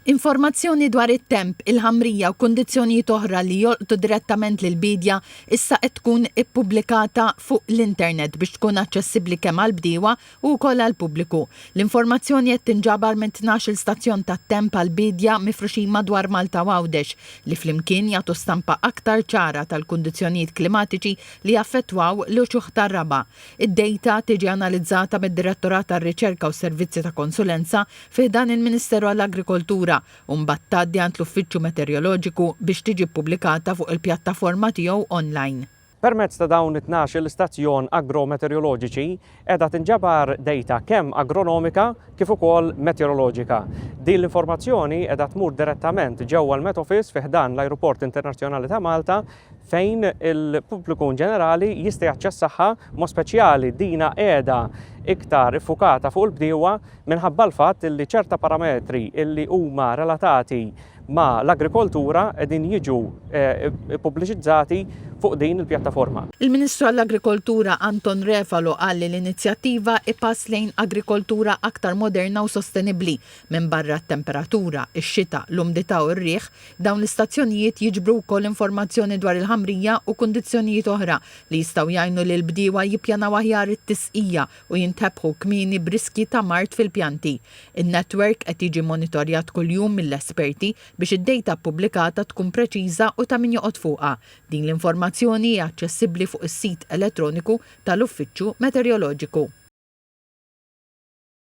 Informazzjoni dwar it-temp, il-ħamrija u kundizzjonijiet oħra li jolqtu direttament lill-biedja issa qed tkun ippubblikata fuq l-internet biex tkun aċċessibbli kemm għall-bdiewa u wkoll għall-pubbliku. L-informazzjoni qed tinġabar minn tnax-il stazzjon tat-temp għall-biedja mifruxin madwar Malta u Għawdex li flimkien jagħtu stampa aktar ċara tal-kundizzjonijiet klimatiċi li jaffettwaw l-uċuħ tar-raba' Id-dejta tiġi analizzata mid-Direttorat għar-Riċerka u s-Servizzi ta' Konsulenza fi ħdan il-Ministeru għall-Agrikoltura u mbagħad tgħaddi għand l-Uffiċċju Meteorjoloġiku biex tiġi ppubblikata fuq il-pjattaforma tiegħu online. Permezz ta' dawn it-tnax-il stazzjon agrometeorjoloġiċi qiegħda tinġabar dejta kemm agronomika kif ukoll meteoroloġika. Din l-informazzjoni qiegħda tmur direttament ġewwa l-Met Office fi ħdan l-Ajruport Internazzjonali ta' Malta fejn il-pubbliku in ġenerali jista' jaċċessaha, mod speċjali dina qiegħda iktar iffukata fuq il-bdiewa minħabba l-fatt li ċerta parametri li huma relatati ma' l-agrikoltura qegħdin jiġu ppubbliċizzati fuq din il-pjattaforma. Il-Ministru għall-Agrikoltura Anton Refalo qal li l-inizjattiva hi pass lejn agrikoltura aktar moderna u sostenibbli. Minbarra t-temperatura, ix-xita, l-umdità u r-riħ, Dawn l-istazzjonijiet jiġbru wkoll informazzjoni dwar il-ħamrija u kundizzjonijiet oħra li jistgħu jgħinu lill-bdiewa jippjanaw aħjar it-tisqija u jintebħu kmieni b'riskji ta' mard fil-pjanti. In-netwerk qed jiġi monitorjat kuljum mill-esperti biex id-dejta ppubblikata tkun preċiża u ta' min joqgħod fuqha. Din l-informazzjoni hi aċċessibbli fuq is-sit elettroniku tal-Uffiċċju Meteoroloġiku.